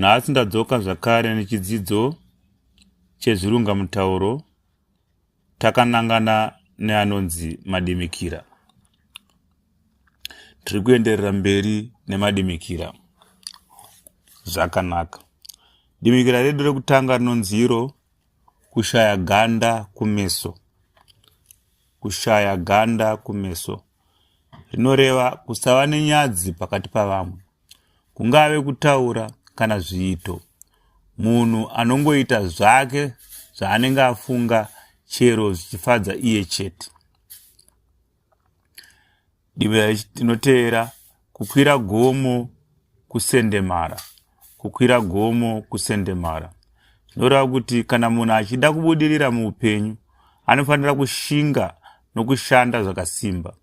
Nhasi ndadzoka zvakare nechidzidzo chezvirunga mutauro takanangana neanonzi madimikira. Tiri kuenderera mberi nemadimikira zvakanaka. Dimikira redu rekutanga rinonzi iro kushaya ganda kumeso. Kushaya ganda kumeso rinoreva kusava nenyadzi pakati pavamwe kungave kutaura kana zviito. Munhu anongoita zvake zvaanenge afunga chero zvichifadza iye chete. Divi rinoteera kukwira gomo kusendemara kukwira gomo kusendemara zvinoreva kuti kana munhu achida kubudirira muupenyu anofanira kushinga nokushanda zvakasimba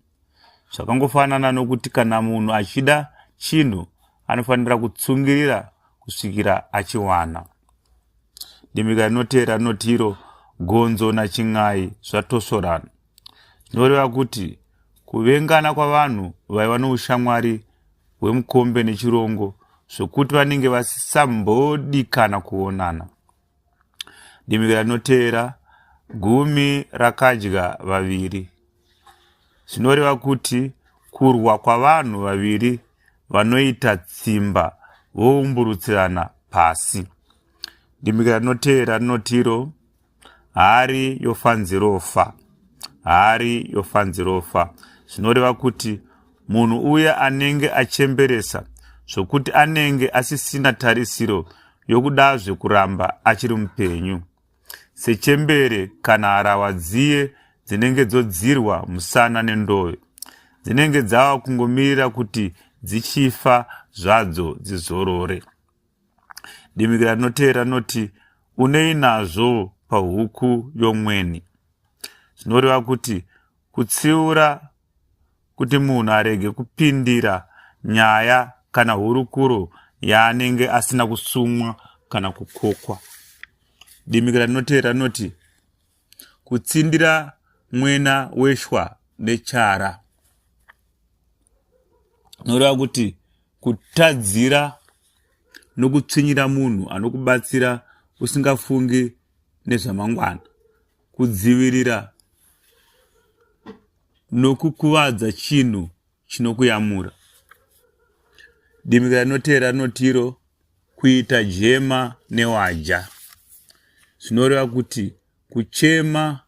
Zvakangofanana nokuti kana munhu achida chinhu anofanira kutsungirira kusvikira achiwana. Dembeka rinoteera rinoti iro gonzo nachin'ai zvatosvorana zvinoreva kuti kuvengana kwavanhu vaiva noushamwari hwemukombe nechirongo zvokuti vanenge vasisambodikana kuonana. dimikira rinoteera gumi rakadya vaviri zvinoreva kuti kurwa kwavanhu vaviri vanoita tsimba voumburutsirana pasi dimikira rinoteera rinotiro hari yofanzirofa hari yofanzirofa zvinoreva kuti munhu uya anenge achemberesa zvokuti anenge asisina tarisiro yokudazve kuramba achiri mupenyu sechembere kana harawa dziye dzinenge dzodzirwa musana nendoyo dzinenge dzava kungomirira kuti dzichifa zvadzo dzizorore dimikira rinoteera rinoti unei nazvo pahuku yomweni zvinoreva kuti kutsiura kuti munhu arege kupindira nyaya kana hurukuro yaanenge asina kusumwa kana kukokwa. Dimikira rinoteera rinoti kutsindira mwena weshwa nechara noreva kuti kutadzira nokutsvinyira munhu anokubatsira usingafungi nezvamangwana kudzivirira nokukuvadza chinhu chinokuyamura. Dimika rinoteera rinotiro kuita jema newaja zvinoreva kuti kuchema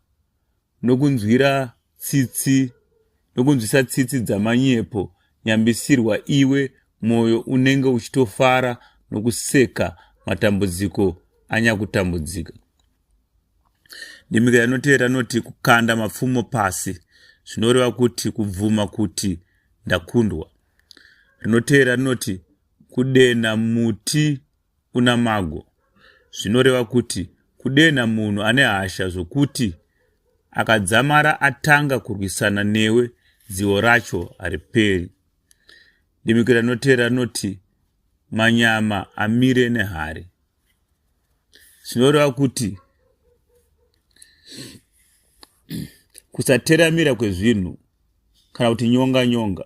nokunzwira tsitsi nokunzwisa tsitsi dzamanyepo nyambisirwa iwe mwoyo unenge uchitofara nokuseka matambudziko anyakutambudzika Ndimika yanotevera inoti kukanda mapfumo pasi zvinoreva kuti kubvuma kuti ndakundwa. Rinotevera rinoti kudenha muti una mago zvinoreva kuti kudenha munhu ane hasha zvokuti akadzamara atanga kurwisana newe dzivo racho hariperi. Dimikira rinotevera rinoti manyama amire nehari. zvinoreva kuti kusateramira kwezvinhu kana kuti nyonga nyonga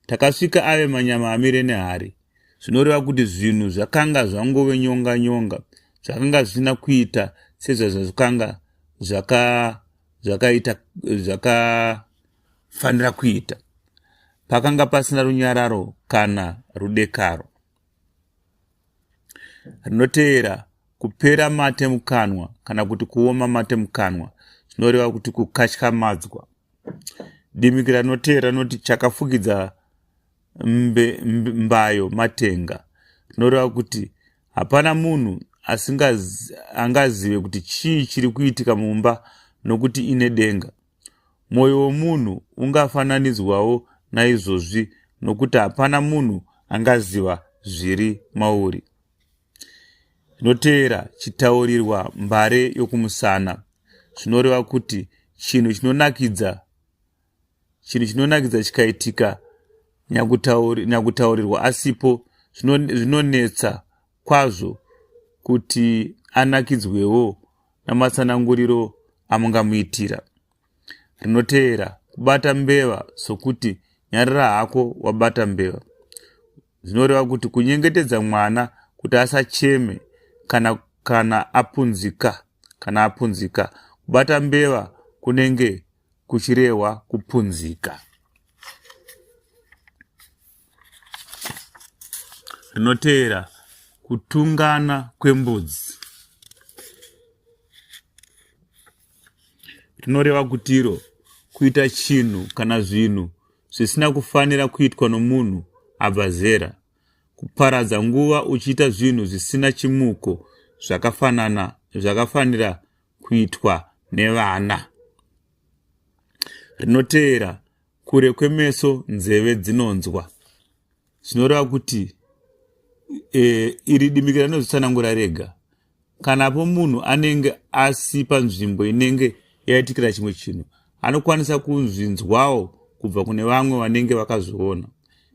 takasvika ave manyama amire nehari zvinoreva kuti zvinhu zvakanga zvangove nyonga nyonga zvakanga zvisina kuita sezvazvazvikanga zvakaita zvakafanira kuita pakanga pasina runyararo kana rudekaro rinoteera kupera mate mukanwa kana kuti kuoma mate mukanwa zvinoreva kuti kukatyamadzwa dimikira rinoteera rinoti chakafukidza mbe, mbe, mbayo matenga zvinoreva kuti hapana munhu asingazive kuti chii chiri kuitika mumba nokuti ine denga Mwoyo womunhu ungafananidzwawo naizvozvi, nokuti hapana munhu angaziva zviri mauri. Zvinoteera chitaurirwa mbare yokumusana zvinoreva kuti chinhu chinonakidza chinhu chinonakidza chikaitika nyakutaurirwa asipo zvinonetsa kwazvo kuti anakidzwewo namatsananguriro amungamuitira. Rinoteera, kubata mbeva sokuti nyarara hako wabata mbeva zvinoreva kuti kunyengetedza mwana kuti asacheme kana kana apunzika kana apunzika kubata mbeva kunenge kuchirehwa kupunzika rinoteera kutungana kwembudzi rinoreva kutiro kuita chinhu kana zvinhu zvisina kufanira kuitwa nomunhu abva zera kuparadza nguva uchiita zvinhu zvisina chimuko zvakafanana zvakafanira kuitwa nevana rinoteera kure kwemeso nzeve dzinonzwa zvinoreva kuti e, iri dimikira rinozvitsanangura rega kana po munhu anenge asi panzvimbo inenge yaitikira chimwe chinhu anokwanisa kunzvinzwawo kubva kune vamwe vanenge vakazviona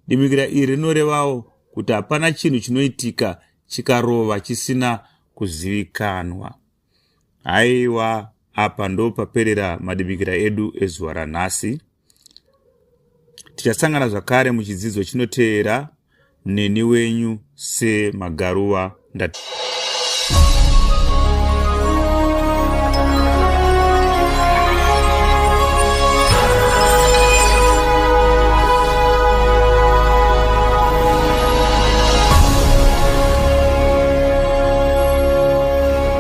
dimikira iri rinorevawo kuti hapana chinhu chinoitika chikarova chisina kuzivikanwa haiwa apa ndopaperera madimikira edu ezuva ranhasi tichasangana zvakare muchidzidzo chinoteera neni wenyu semagaruva ndati